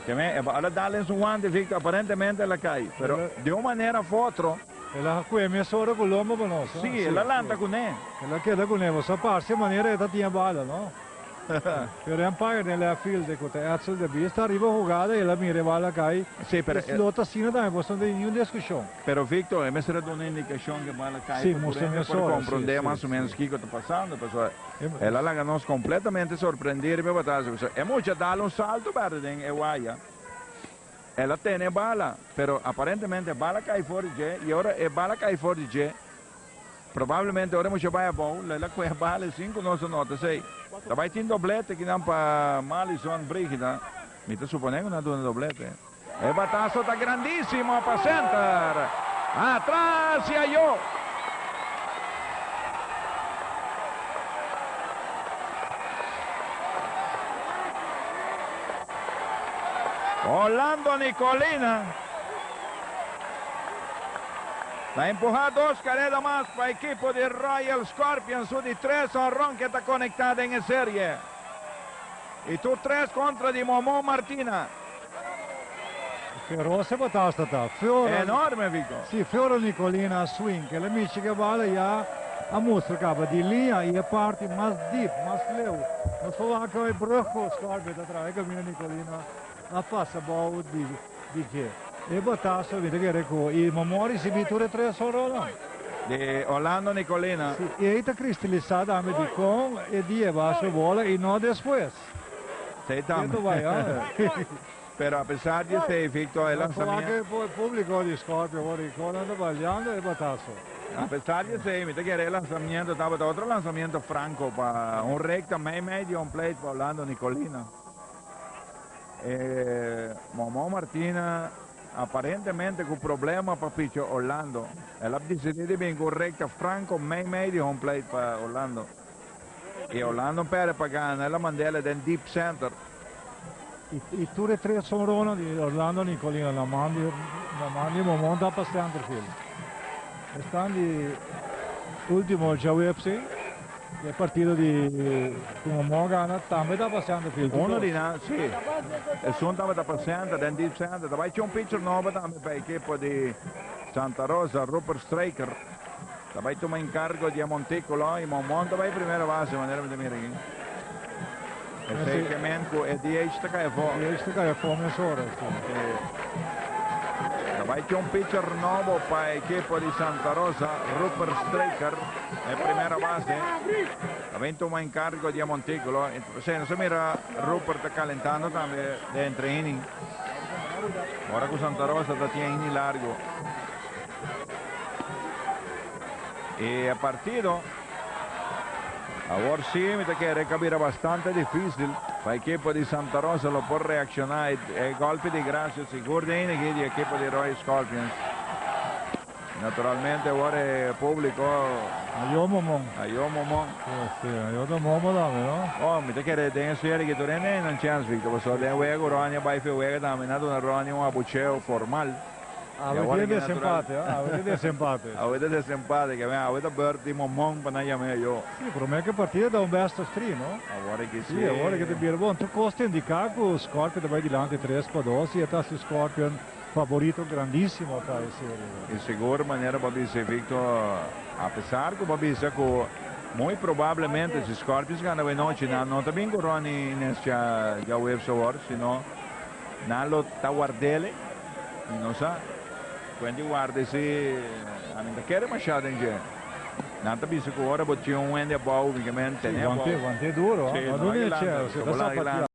Temen e bala dal den su wante Victor aparentemente el a cay pero de un manera of otro. El a hacu e mes ora cu lomba pa nos. Si el a lanta cune. El a keda cune boso a parce manera e ta tin e bala no pero e umpire den left field e cu ta Edsel de Bies ta riba hugada el a mira e bala cay y slot asina tambe boso no ta tin niun discusion. Pero Victor e mester a duna indicacion cu e bala cay pa tur hende por compronde mas o menos kico ta pasando pasobra. El a laga nos completamente sorprendé riba e batasa, pasobra e mucha a dal un salto berde den e waya. El a tene e bala, pero aparentemente e bala cay for di dje, y ora e bala cay for di dje, probablemente ora e mucha a bay abao, lo el a coge e bala y sin cu nos a nota esey, ta bay tin doblete aquí nan pa Mallison, Brigida, mi ta supone cu nan a duna doblete. E bataso ta grandisimo pa center. Atras i ayo. Orlando Nicolina ta empuha dos kareda mas pa ekipo di Royal Scorpions su di tres honron ke ta konekta den e serie. I tur tres kontra di Momo Martina. Pero se batasta ta Fior. Enorme Vico. Si sí, Fior Nicolina swing que le michi que bala ya a mustra caba di linea y e parti mas deep, mas leu. Nos por wak hoy brug con score beta atrás e camino Nicolina a pasa bao di di dje. E bataso mi ta kere cu y Momoa ricibi tur e tres honronnan. Di Orlando Nicolina. Sí, y ey ta cristilisa tambe di con e dieba su bola y no despues. Sey tam. Pero a pesar di esey Victor e lanzamiento. A pesar di esey mi ta kere e lanzamiento tabata otro lanzamiento franco pa un recta mei mei di un plate pa Orlando Nicolina. E Momo Martinez aparentemente cu problema pa piche Orlando el a decidi di bin cu un recta franco mei mei di un plate pa Orlando. E Orlando Pere pa gana el a manda el aden deep center. Y tur e tres honronnan di Orlando Nicolino nan mandi nan mandi Momonta pa center field. Esnan di ultimo djaweepsi di e partido di cu Momo a gana tambe ta pa center field. Uno di nan si. Esun tabata pa center den deep center. Ta bay cu un pitcher nobo tambe pa e ekipo di Santa Rosa Rupert Straker. Ta bai tuma enkargo di e Monticulo y Monmon ta bai primero base manera mi ta mira aki. E fake men cu e DH ta caya for. E DH ta caya for mesora, si. Ta bai cu un pitcher nobo pa e ekipo di Santa Rosa, Rupert Straker, e primera base. Ta bin tuma enkargo di e Monticulo y p'esei nos a mira Rupert ta calentando tambe den tre inning. Ora cu Santa Rosa ta tin e inning largo. Y e partido awor si mi ta kere kabira bastante difícil pa ekipo di Santa Rosa lo por reacciona. E golpe di gracia sigur den yiniki di ekipo di Roy Scorpions. Naturalmente awor e publico. A yo momon. A yo momon. Si, a yo ta momo tambe no. Oh, mi ta kere den e sfera di Kito den dei nan chance Victor, paso den wega ku Ronnie a bai fi wega tambe nan a duna Ronnie un abucheo formal. Awe ta desempate, awe ta desempate. Awe ta desempate, ke awen awe ta beurt di momon pa nan yam'é e yo. Si, pero meke partida a da un best of three, no? Awor ki si. Si, awor ki ta bira bon. Tur kos ta indiká ku Scorpion ta bai dilanti tres pa dos i e ta si Scorpion faborito grandísimo aká e serie aki. I sigur manera bo a bisa, Victo, apesar ku bo a bisa ku muy probablemente si Scorpions gana awe anochi nan no ta bin ku Ronnie Inescha Jauwebs awor, sino, Nan lo ta wardele y nos a cuenta y warda y si a mi no ta kere masha den dje. Nan ta bisa cu ora bo tin un hende abao mi ke mi hende tene abao. Sí, bo a wante duro, no a duna e chel, si ta zapatia.